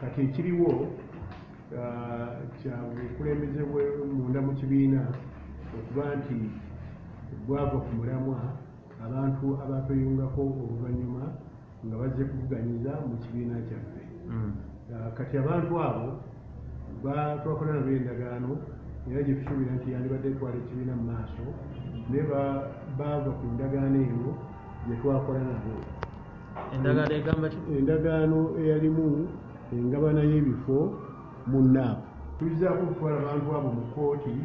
kati ekiriwo uh, kya bukulembeze munda mu kibiina okuba nti bwava ku mulamwa abantu abatweyungako oluvannyuma nga bazze kuvuganyiza mu kibiina kyaffe mm. uh, kati abantu abo batwakola nabo endagaano era gye tusuubira nti yandibadde etwala ekibiina mu maaso naye baava ku ndagaano eno gye twakola nabo endagaano egamba ki endagaano eyalimu engabana y'ebifo mu naapu tuyizaako okutwala abantu abo mu kkooti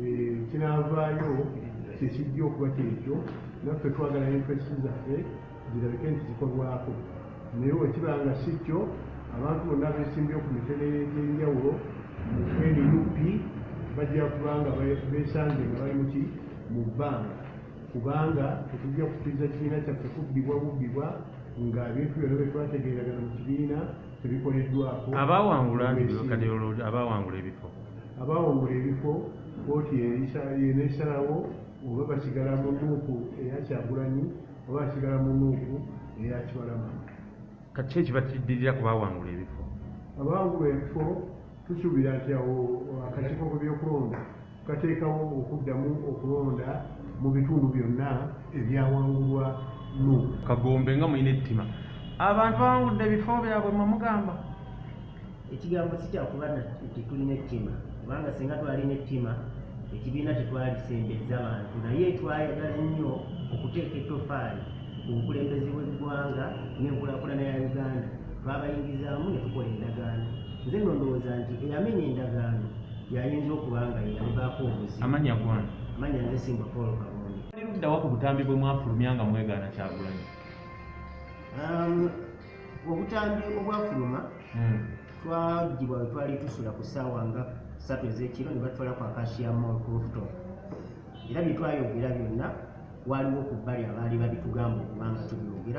eh, kinaavaayo kyekijja okuba kyekyo naffe twagala entresi zaffe zirabike nti zikolwako naye wekiba nga si kyo abantu bonna abesimbyewo ku mitene gy'enjawulo mu nup bajja kubanga besanze nga bali muki mu bbanga kubanga tetujja kukiriza kibiina kyaffe kubbibwa bubbibwa nga ebintu byona byetwategeeragana mu kibiina tebikoleddwako abawangula kadiyolodi abawangula ebifo abawangula ebifo kooti yenesalawo oba basigala mu nuuku eyakyagulanyi oba asigala mu nuuku eyakibalama kati ki ekiba kiddirira ku baawangula ebifo abaawangula ebifo tusuubira nti awo akakiiko ku byokulonda kateekawo okuddamu okulonda mu bitundu byonna ebyawangulwa nu kagombe nga mulina ettima abantu bawangudde ebifo byabwe mwemugamba ekigambo sikyakuba nti tulina ettima kubanga singa twalina ettima ekibiina tetwalisembezza bantu naye twayagala nnyo okuteeka ettofaali ku bukulembeze bw'eggwanga n'enkulakulana ya uganda twabayingizaamu ne tukola endagaano nze no ndowooza nti eyamenya endagaano yayinza okuba nga yeyamubaako obuzi amanya gwana amanya nze simba paul kabondi liddawa ku butambi bwe mwafulumya nga mwegaana kyagulanyi um, obutambi obwafuluma hmm. twagibwa we twali tusula ku ssaawa nga satu ez'ekiro ne batwala ku akashiya mall rooftop era bye twayogera byonna waliwo ku bbali abaali babitugamba okubanga tubyogera